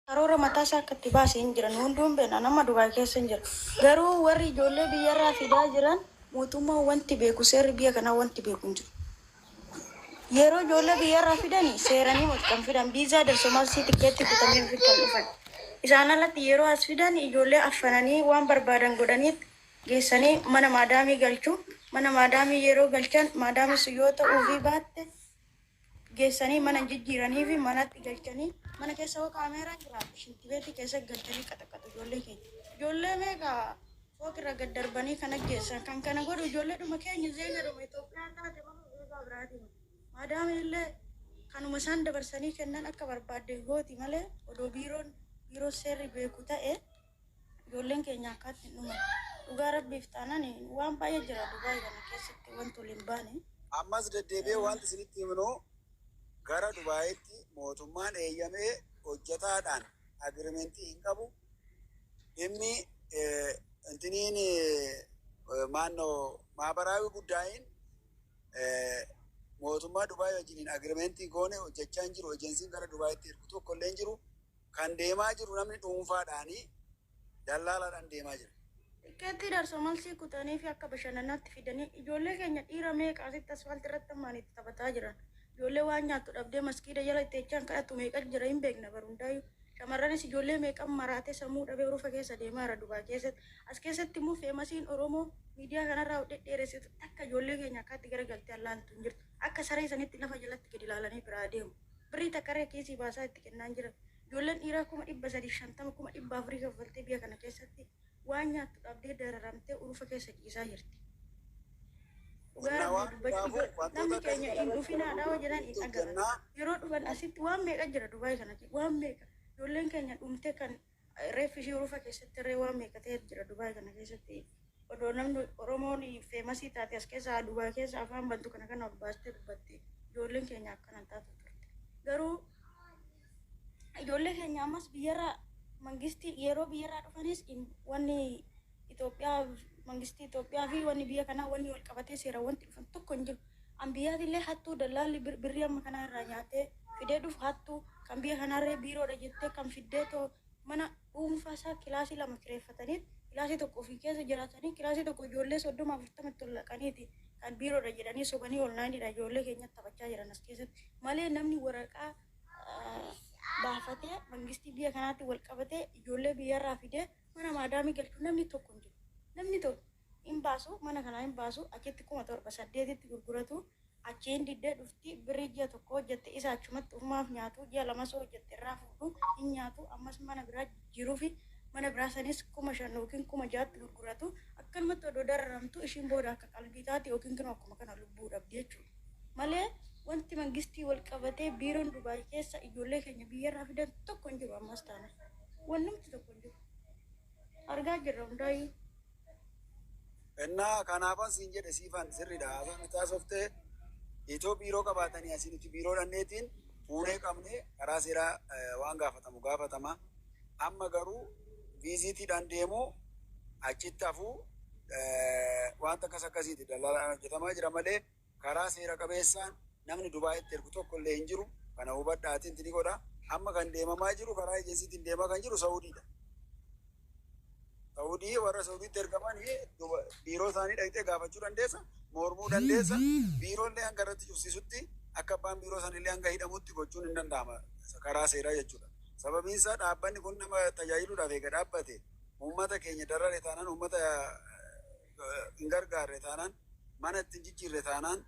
Karoora mataa isaa akka itti baase hin jira. Nu hunduu hin beekna. Ani amma Dubai keessa hin jira. Garuu warri ijoollee biyya irraa fidaa jiran mootummaan wanti beeku, seerri biyya kanaa wanti beeku hin jiru. Yeroo ijoollee biyya irraa fidani seeranii moti kan fidan. Viizaa darso malsii tikkeettii kutanii ofitti kan dhufan. Isaan alatti yeroo as fidan ijoollee affananii waan barbaadan godhaniit geessanii mana maadaamii galchu. Mana maadaamii yeroo galchan maadaamii sun yoo ta'uufii baatte, geessanii mana hin jijjiiranii fi manatti galchanii mana keessa hoo kaameeraan jiraate shintibeetii keessa galchanii qaxaqatu ijoollee keenya. Ijoollee meeqa fooqirra gad darbanii kan ajjeessan kan kana godhu ijoolleedhuma keenya zeegadhuma Itoophiyaa taate malee zeegaa biraatii miti. Maadaamiin illee kanuma isaan dabarsanii kennan akka barbaadde gooti malee odoo biiroon biiroo seerri beeku ta'e Ijoolleen keenya akkaatti hin dhuman. Dhugaa rabbiif taanan waan baay'ee jira Dubai kana keessatti wanti ol hin baane. Ammas deddeebi'ee wanti isinitti himnu gara Dubaayitti mootummaan eeyyamee hojjetaadhaan agreement hin qabu. Dhimmi intiniin maannoo maabaraawi guddaayiin mootummaa Dubai wajjiniin agreement goone hojjechaa hin jiru. Ejensiin gara Dubaayitti ergu tokko illee hin jiru. Kan deemaa jiru namni dhuunfaadhaani, dallaalaadhaan deemaa jira. Tikkeettii darsomalsii kutaniifi akka bashannanaatti fidanii ijoollee keenya dhiira meeqa asitti asfaaltii irratti ammaan itti taphataa jiran. Ijoollee waan nyaattu dhabdee maskiida jala itti jechaan kadhattu meeqatu jira hin beekna bar hundaayyuu. Shamarranis ijoollee meeqan maraatee sammuu dhabee urufa keessa deemaa jira Dubaay keessatti. As keessatti immoo feemasiin Oromoo miidiyaa kanarraa of dhedheeressitu takka ijoollee keenya akkaatti garagaltee allaaltu hin jirtu. Akka saree sanitti lafa jalatti gadi ilaalanii biraa deemu. Birrii takka irra kiisii baasaa itti kennaa hin jiran. Ijoolleen dhiiraa 350,000, 400,000 kaffaltee biyya kana keessatti waan nyaattu dhabdee dararamtee urufa keessa ciisaa jirti. Dhugaa Rabbii dubbachuuf yoo namni keenya hin dhufinaa dha yoo jedhan hin dhaga'an. Yeroo dhufan asitti waan meeqa jira Dubaay kana keessa waan meeqa. Ijoolleen keenya dhumtee kan Reeffi ishii urufa keessatti irree waan meeqa ta'etu jira Dubai kana keessatti odoo namni Oromoon feemasii taate as keessa haa Dubai keessa afaan bantu kana kana ol baastee dubbatte ijoolleen keenya akkana hin taatu turte garuu ijoollee keenya ammas biyyarraa mangistii yeroo biyyarraa dhufanis wanni Itoophiyaa, mangistii Itoophiyaa fi wanni biyya kanaa wanni wal qabatee seeraan wanti dhufan tokko hin jiru. Anbiyaatillee hattuu dallaalli birrii amma kanaa irraa nyaatee fidee dhufu hattuu, kan biyya kanaarree biiroodha jettee kan fiddeetoo mana dhuunfaa isaa kilaasii lama kireeffataniit kilaasii tokko ofii keessa jiraatanii kilaasii tokko ijoollee 30, 40 itti ol naqaniiti kan biiroodha jedhanii sobanii onlaayiniidhaan ijoollee keenyatti taphachaa jiran as keessatti malee namni waraqaa baafatee mangistii biyya kanaatti wal qabatee ijoollee biyyarraa fidee Mana maadaamii galchu namni tokko hin jiru. Namni tokko hin baasu, mana kanaa hin baasu, achitti 7000, 8tti gurguratu, achii hin didde dhufti, birrii ji'a tokkoo hojjette isa achumatti ofumaaf nyaatu, ji'a lamas yoo hojjette irraa fuudhu, hin nyaatu, ammas mana biraa jijjiiruufi, mana biraa sanis 5000 ykn 6000tti gurguratu, akkanumatti odoo dararamtuu ishiin booda akka qalbii taati ykn kinoo akkuma kana lubbuu dhabdi jechuudha. Malee wanti mangistii wal qabatee biiroon Dubaay keessa ijoollee keenya biyyarraa fidan tokko hin jiru ammas taanaan. Wannumti tokko hin jiru. Argaa jirra hundaayyuu. Innaa kanaafan siin jedhe siifan sirriidha. Haasaan nuti haasoftee itoo biiroo qabaatanii asii nuti biiroo dhanneetiin fuunee qabnee karaa seeraa eh, waan gaafatamu gaafatama. Amma garuu viiziitiidhaan deemuu achitti hafuu eh, wanta akkas akkasiiti dallaalaan hojjetamaa jira malee Karaa seera qabeessaan namni Dubaayitti ergu tokko illee hin jiru. Kana hubadhaa attempt ni godha. Amma kan deemamaa jiru karaa ejensiitiin deemaa kan jiru Sa'udiidha. Sa'udii warra Sa'udiitti ergaman biiroo isaanii dhaqxee gaafachuu dandeessa, mormuu dandeessa. Biiroo illee hanga irratti cufsiisutti akka abbaan biiroo sana illee hanga hidhamutti gochuun hin danda'ama karaa seeraa jechuudha. Sababiin isaa dhaabbanni kun nama tajaajiluudhaaf eega dhaabbate uummata keenya darare taanaan uummata hin gargaarre taanaan, mana itti hin jijjiirre taanaan,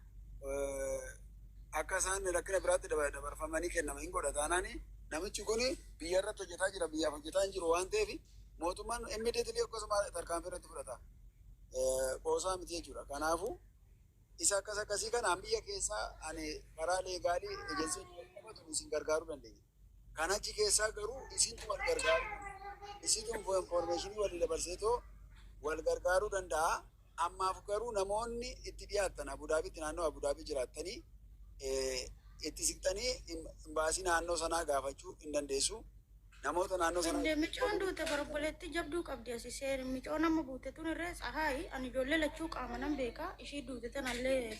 akka isaan rakkina biraatti dabarfamanii kennaman hin godha taanaan namichi kun biyya irratti hojjetaa jira, biyyaaf hojjetaa hin jiru waan ta'eef mootummaan immediately akkasuma tarkaanfii irratti fudhata. Qoosaa miti jechuudha. Kanaafuu isa akkas akkasii kanaan biyya keessaa ani karaa leegaalii ejensiin qabatu isin gargaaruu dandeenya. Kan achi keessaa garuu isintu wal gargaaruu danda'a. Isitu info information walii dabarseetoo wal gargaaruu danda'a. Ammaaf garuu namoonni itti dhiyaattan Abu Dhaabiitti naannoo Abu Dhaabii jiraattanii itti siqxanii imbaasii naannoo sanaa gaafachuu hin dandeessu. Namoota naannoo sanaa Hinde micoon duute barobboleettii jabduu qabdi asi seer micoon amma buute tun irree tsahaay ani ijoollee lachuu qaamanan beeka ishii duute tanallee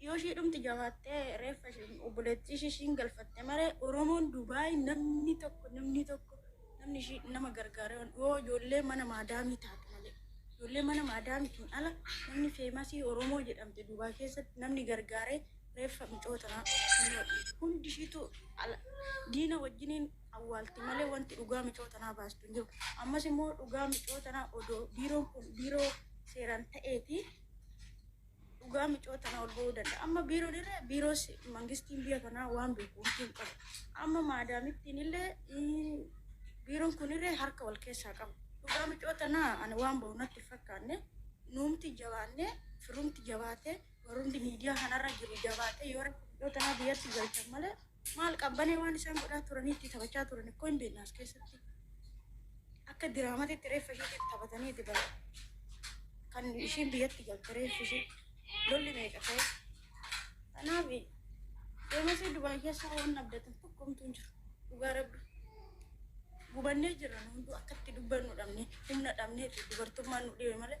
Yoo ishii dhumti jabaattee reeffa ishii obboleettii ishii ishiin galfatte malee Oromoon Dubai namni tokko namni tokko namni ishii nama gargaaree waan yoo ijoollee mana maadaamii taate malee ijoollee mana maadaamitiin ala namni feemasii Oromoo jedhamte Dubai keessatti namni gargaaree reeffa micoo tanaa hundi ishiitu ala diina wajjiniin awwaalti malee wanti dhugaa micoo tanaa baastu hin jiru. Ammas immoo dhugaa micoo tanaa odoo biiroon kun biiroo seeraan ta'eeti Dhugaa micoo tana ol ba'uu danda'a. Amma biiroon irra biiroos mangistiin biyya kanaa waan beeku wanti hin qabu. Amma maadaamittiin illee ii, biiroon kun irra harka wal keessaa qaba. Dhugaa micoo tana ani waan ba'u natti hin fakkaanne nuumti jabaannee firumti jabaatee warrumti miidiyaa kanarra jiru jabaatee yoo rakkoo micoo tanaa biyyatti galchan malee Maal qabbanee waan isaan godhaa turanii itti taphachaa turan ikkoo hin beekna as keessatti. Akka diraamatitti reeffa ishiitiif taphatanii itti bara. Kan ishiin biyyatti galte reeffi ishii lolli meeqa ta'e. Kanaaf deemasii Dubaay keessa waan abdatan tokko homtuu hin jiru. Dhugaa rabbi. Gubannee jirra nu hunduu akkatti dubbannu dhabne humna dhabneeti dubartummaan nu dhibe malee.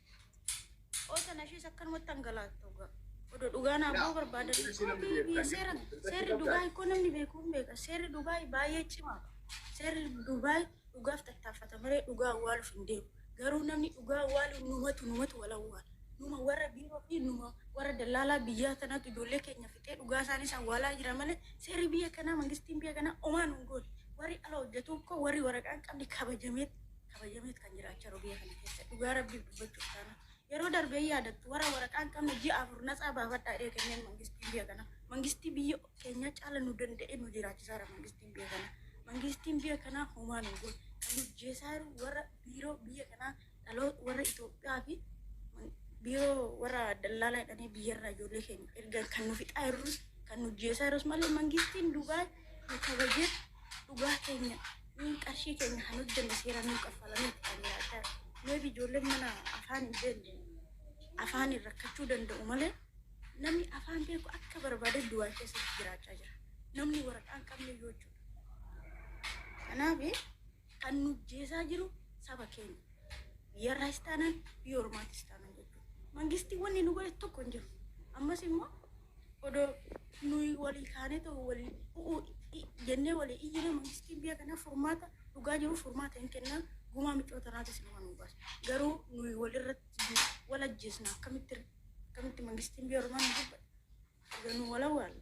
Oota nashiis akkanumatti hangalaatta dhugaa. Odoo dhugaa naaf ba'uu barbaadan. Biyya seera seerri Dubaay koo namni beeku hin beeka. Seerri Dubaay baay'ee cimaa. Seerri Dubaay dhugaaf tattaaffata malee dhugaa awwaaluuf hin deemu. Garuu namni dhugaa awwaalu numatu numatu wal awwaala. Numa warra biiroo fi numa warra dallaalaa biyyaa tanatu ijoollee keenya fixee dhugaa isaanis awwaalaa jira malee seerri biyya kanaa mangistiin biyya kanaa omaa nun goone. Warri ala hojjetu koo warri waraqaan qabne kabajameetti. kabajameet kan jira acha rogee kana keessa dhugaa rabbiif dubbachuuf taana yeroo darbee hin yaadattu wara waraqaan qabne ji'a afur natsaa baafadhaa dhee kenneen mangistiin biyya kana mangistii biyya keenyaa caala nu danda'e nu jiraachisaara mangistiin biyya kana mangistiin biyya kanaa homaa nu godhe kan nu jeesaaru warra biiroo biyya kanaa dhaloo warra Itoophiyaa fi biiroo warra dallaalaa jedhanii biyyarraa ijoollee keenya erga kan nu fixaa jirrus kan nu jeesaaru malee mangistiin Dubaay nu kabajee dhugaa keenya nuun qarshii keenya kan hojjenne seeraan nuu kaffalamee itti kan jiraachaa jiru. Meebi ijoolleen mana afaan hin beekne afaaniin rakkachuu danda'u malee namni afaan beeku akka barbaade Dubaay keessatti jiraachaa jira. Namni waraqaa hin qabne iyyuu jechuudha. Kanaaf kan nu jeesaa jiru saba keenya. Biyya irraas taanaan biyya ormaatis taanaan jechuudha. Mangistiin wanni nu godhe tokko hin jiru. Ammas immoo Odoo nuyi walii kaanee ta'u walii u'uu jennee walii iyyina mangistiin biyya kanaa furmaata dhugaa jiru furmaata hin kennaa gumaa micoota irraati sinuma nu baasa. Garuu nuyi walirratti wal ajjeesna akkamitti akkamitti mangistiin biyya ormaa nu dubbata. Egaa nu wal awwaalla.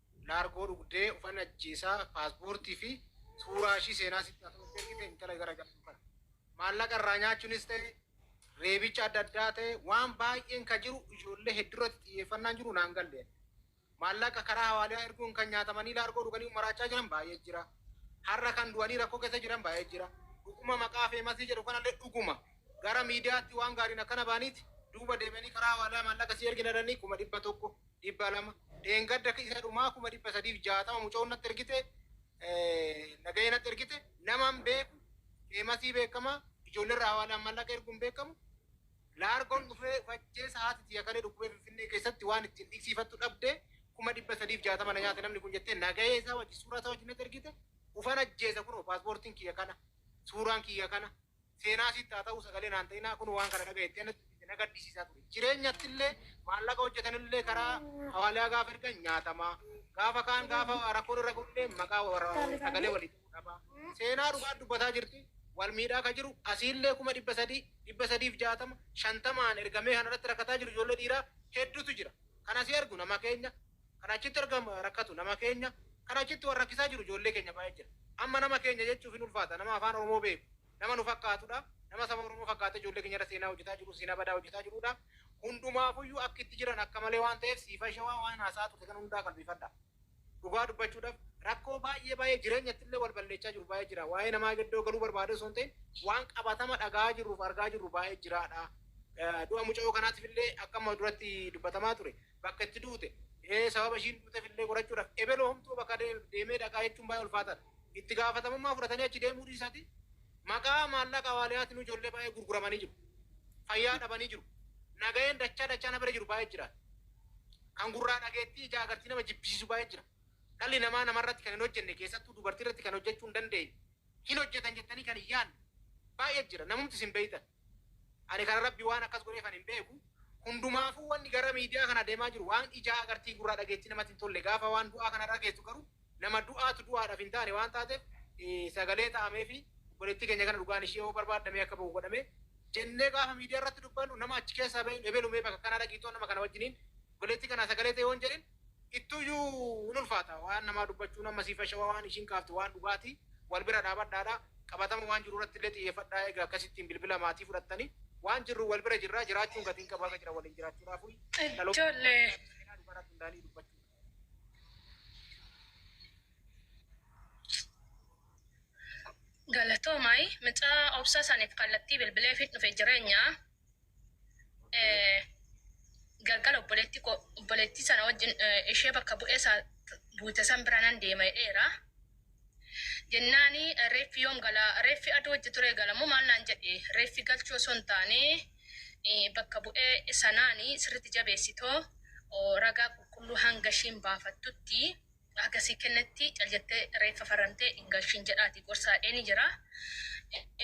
Naargoo dhugdee ufan ajjeesaa paaspoortii fi suuraa ishii seenaa sitti haa ta'u itti ergite intala gara jabduu kana. Maallaqa irraa nyaachuunis ta'e reebicha adda addaa ta'e waan baay'een ka jiru ijoollee heddurratti xiyyeeffannaan jiru naan galle. Maallaqa karaa hawaaliyaa erguun kan nyaatamanii laargoo dhuganii maraachaa jiran baay'ee jira. Har'a kan du'anii rakkoo keessa jiran baay'ee jira. Dhuguma maqaa feemasii jedhu kanallee dhuguma gara miidiyaatti waan gaariin akkana baaniiti duuba deebi'anii karaa hawaaliyaa maallaqa sii ergina jedhanii kuma dhibba tokko 200 dheengadda isa dhumaa 360,000 mucoon natti ergite nagahee natti ergite naman beeku feemasii beekama ijoollerra hawaalaan mallaqa erguun beekamu laargoon dhufee fajjeessa haati tiyya kalee dhukkubee finfinnee keessatti waan ittiin dhiqsiifattu dhabde 360 na nyaate namni kun jettee nagahee isaa wajji suuraa isaa wajji natti ergite ufan ajjeesa kunoo paaspoortiin kiyya kana suuraan kiyya kana seenaa sitti haa ta'uu sagalee naan ta'inaa kun waan kana dhaga'e itti anatti itti na gaddisiisaa ture. Jireenyatti illee maallaqa hojjetan illee karaa hawaaliyaa gaafa ergan nyaatamaa gaafa kaan gaafa rakkoon irra ga'u illee maqaa warra sagalee walitti nu dhabaa. Seenaa dhugaa dubbataa jirti wal miidhaa ka jiru asii illee kuma dhibba sadii, dhibba sadiif jaatama, shantamaan ergamee kan irratti rakkataa jiru ijoollee dhiiraa hedduutu jira. Kan asii argu nama keenya. kan achitti erga rakkatu nama keenya kan achitti wal rakkisaa jiru ijoollee keenya baay'ee jira amma nama keenya jechuuf hin ulfaata nama afaan oromoo beeku nama nu fakkaatudha nama saba oromoo fakkaatee ijoollee keenya irra seenaa hojjetaa jiru seenaa badaa hojjetaa jirudha hundumaafuyyuu akka itti jiran akka malee waan ta'eef siifa shawaa waan haasaa turte kan hundaa qalbifadha dhugaa dubbachuudhaaf rakkoo baay'ee baay'ee jireenyatti illee wal balleechaa jiru baay'ee jira waa'ee namaa gaddoo galuu barbaadee osoo hin ta'in waan qabatama dhagaa jirruuf argaa jirru baay'ee jiraadha du'a muca'oo kanaatiif illee akka amma duratti dubbatamaa ture bakka itti duute, sababa ishiin duutef illee qorachuudhaf ebelu homtuu bakka deemee dhaqaa jechuun baay'ee ulfaataadha. Itti gaafatamummaa fudhatanii achi deemuu dhiisati maqaa maallaqa waaliyaatinuu ijoollee baay'ee gurguramanii jiru. Fayyaa dhabanii jiru. Nagaheen dachaa dachaa na bira jiru baay'ee jira. Kan gurraa dhageettii ijaa agartii nama jibbisiisu baay'ee jira. Dhalli namaa namarratti kan hin hojjenne keessattuu dubartiirratti kan hojjechuu hin dandeenye, hin hojjetan jettanii kan hin yaanne baay'ee jira. Namumti isin beektan. Ani kana rabbi waan akkas godheefan hin beeku hundumaafuu wanni gara miidiyaa kana deemaa jiru waan ijaa agartii gurraa dhageettii namatti hin tolle gaafa waan du'aa kana dhageessu garuu nama du'aatu du'aadhaaf hin taane waan taateef sagalee ta'ameefi obboleettii keenya kana dhugaan ishee yoo barbaadda mee akka bahu godhame jennee gaafa miidiyaa irratti dubbannu nama achi keessaa bahin ebelu mee bakka kanaa dhaqiitoo nama kana wajjiniin obboleettii kanaa sagalee ta'e yoon jedhin ittuyyuu hin ulfaata waan namaa dubbachuun amma sii fashawa waan ishiin kaafte waan dhugaati wal bira dhaabadhaadha qabatama waan jiru irratti illee xiyyeeffadhaa eega akkasittiin bilbila maatii fudhattani waan jirru wal bira jirraa jiraachuun gatiin qabu haga jira waliin jiraachuudhaafuyi dhaloota Ijoollee. seenaa dhugaa irratti hundaa'anii dubbachuu Galatoomaa mucaa obsa saniif kallattii bilbileefiin dhufe jireenya. galgala obboleetti koo obboleettii sana wajjin ishee bakka bu'ee isaa buute san bira nan deema jedheera. Jennaani reeffi yoom gala reeffi aduu wajji ture galamoo maal naan jedhe reeffi galchuu osoo hin taane bakka bu'ee sanaani sirritti jabeessitoo ragaa qulqulluu hanga ishiin baafattutti Haga sii kennetti cal jettee reeffa farrantee hin galchiin jedhaatii gorsa hadheenii jira.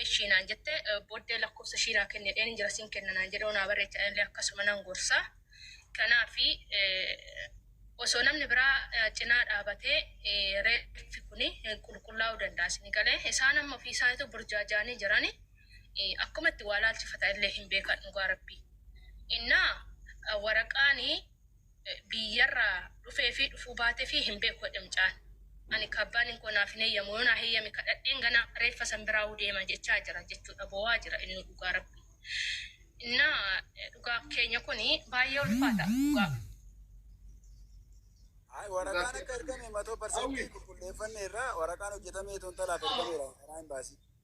Eshii naan jette booddee lakkoofsa ishii naa kenni jedheenin jira sin kenna naan jedhoo naa barreechi anillee akkasuma nan gorsa. Kanaafi osoo namni biraa cinaa dhaabatee reeffi kuni qulqullaa'uu danda'a sini galee isaan amma ofii isaaniitu burjaajaanii jirani akkuma itti waa laalchifatan illee hin beekan dhugaa rabbii. Innaa waraqaani biyyarraa dhufeefi dhufuu baatefi hin beeku jedhe mucaan. Ani kaabbaanin koo naaf hin heyyamu yoo naa heyyame kadhadheen ganaa reeffa san biraahuu deema jechaa jira jechuudha boo'aa jira innuu dhugaa rabbii. Innaa dhugaa keenya kuni baayyee ulfaata dhugaa. Ayi waraqaan akka ergame matoo parsantii qulqulleeffanneerra waraqaan hojjetamee toontalaaf ergameera karaa imbaasii.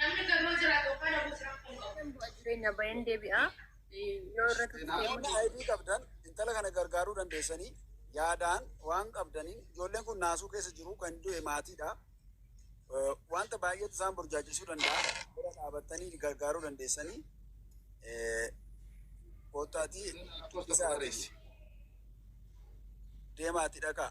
Namni gamoo jiraatu yookaan dhabuus rakkoo hin qabu. Bu'aa jireenya baay'een deebi'a. Yoo irra Namoonni ID qabdan intala kana gargaaruu dandeessanii yaadaan waan qabdaniin ijoolleen kun naasuu keessa jiru kan du'e maatiidha. Eh, Wanta baay'eetu isaan burjaajessuu danda'a. Bira dhaabattanii gargaaruu dandeessanii eh, koottaatii isa deemaatii dhaqaa.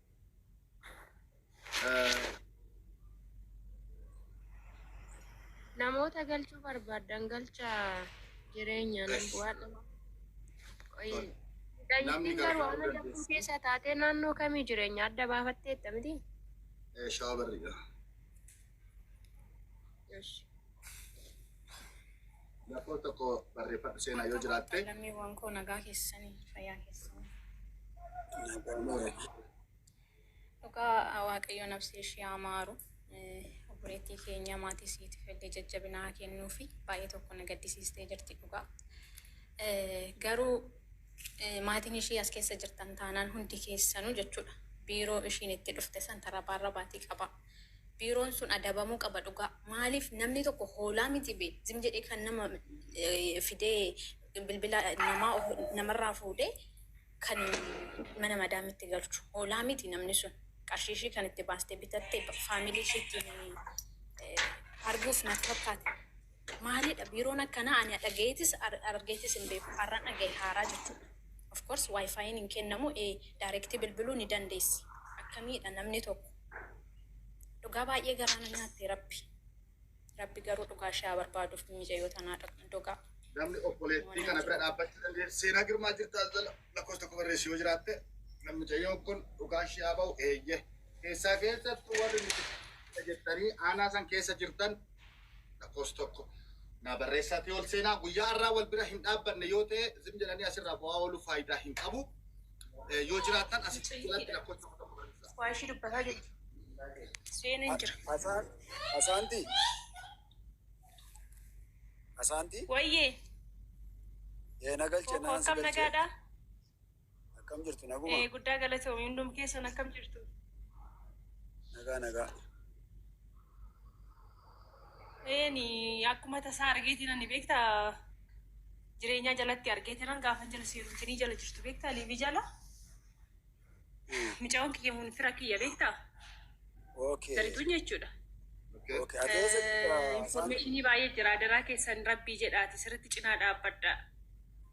Namoota galchuu barbaaddan galcha jireenya nan bu'aa dhama. Namni garuu amma lakkuu keessa taatee naannoo kamii jireenya adda baafatteetta miti? Shaabarriidha. Lakkoo tokko barreeffadhu seenaa yoo jiraatte. Lammiiwwan koo nagaa keessanii fayyaa keessanii. Dhugaa Waaqayyo nabsee ishee haa maaru. Obboleettii keenya maatii siitiif illee jajjabina haa kennuu fi baay'ee tokko na gaddisiistee jirti dhugaa. Garuu maatiin ishii as keessa jirtan taanaan hundi keessanuu jechuudha. Biiroo ishiin itti dhufte san tarabaa irra baatii qaba. Biiroon sun adabamuu qaba dhugaa maaliif namni tokko hoolaa miti be zim jedhee kan nama fidee bilbila namaa namarraa fuudhee kan mana madaamitti galchu hoolaa miti namni sun qarshii ishii kan itti baastee bitatte faamilii ishiitti arguuf natti fakkaata. Maalidha biiroon akkanaa ani dhagayeetis argeetis hin beeku har'an dhagaye haaraa jechuudha of course wifi'n hin kennamu ee direct bilbiluu ni dandeessi akkamiidha namni tokko dhugaa baay'ee garaa na nyaatte rabbi rabbi garuu dhugaa ishee haa barbaaduuf miicayyoo tanaa dogaa Namni obboleettii kana bira dhaabbachuu danda'e seenaa girmaa jirtaa jala lakkoofsa tokko barreessi yoo jiraatte kan mucayyoon kun dhugaa ishee haa ba'u eeyyee. Keessaa keessattuu warri nuti jettanii aanaa san keessa jirtan Lakkoofsi tokko naa barreessaatii ol seenaa. Guyyaa har'aa wal bira hin dhaabbanne yoo ta'e zim jedhanii asirraa bo'aa ooluu faayidaa hin qabu. Eh, Yoo jiraattan as jalatti lakkoofsi tokko tokko barreessaa. Waa ishii dubbataa jirti. Seeneen jira. Asaan, asaanti. Asaanti. Wayyee. Ee na galche Tokko naan si akkam galche. nagaadhaa? Akkam jirtu naguma? Ee guddaa galatoomi hundum keessan akkam jirtu? Nagaa nagaa. Eeni akkuma tasaa argeetiin ani beekta jireenyaa jalatti argeetiran gaafa jala seerumtinii jala jirtu beekta liibii jala micaa'oon kiyya mun fira kiyya beekta Okay. sarituun jechuudha. Okay. Okay. Ati eessa jirta? Saantu? Informeeshinii baay'ee jira adaraa keessan rabbii jedhaati sirriitti cinaa dhaabbadha.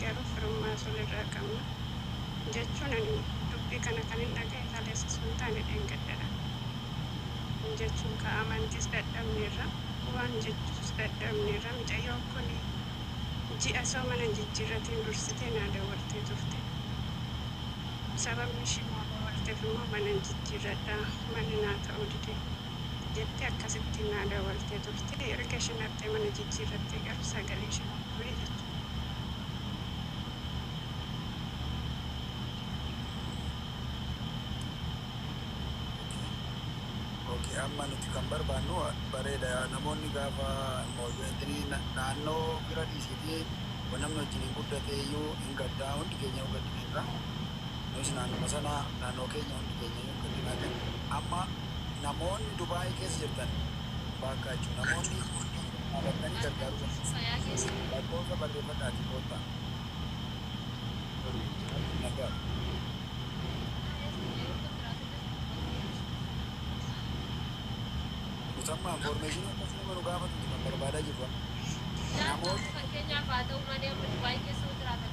Garuu firummaa sun irraa qabna. Jechuun ani dubbii kana kanin dhaga'e kaleessa osoo hin taane dheengaddadha. Jechuun kaa amantiis dadhabneerra. Waan jechus dadhabneerra. Micayyoon kun ji'a osoo mana hin jijjiirratiin dursitee naa dawwaltee turte. Sababni ishii naa dawwalteef immoo mana hin jijjiirradha. Manni naa ta'uu dide. jette akkasitti naa dawaltee turte erga ishin artee mana jijjirratte garu sagalee ishe gurgure jette. Ok amma nuti kan barbaannu bareeda namoonni gaafa mooyyeettini naannoo bira dhiisiiti wa namni wajjin hin guddatee iyyuu hin gaddaa hundi keenya hin gaddineerra nus naannuma sana naannoo keenya hundi keenya hin gaddinaa kan amma Namoonni Dubai keessa jirtan baakkaachu namoonni dhaabattanii gargaaruu dandeessu. Lakkoofsa barreeffadhaatii koottaa. Musammaa information akkasii nama nu gaafatu kan barbaadaa jirru. Namoonni fakkeenyaaf haa ta'u malee amma Dubai keessa jiraatan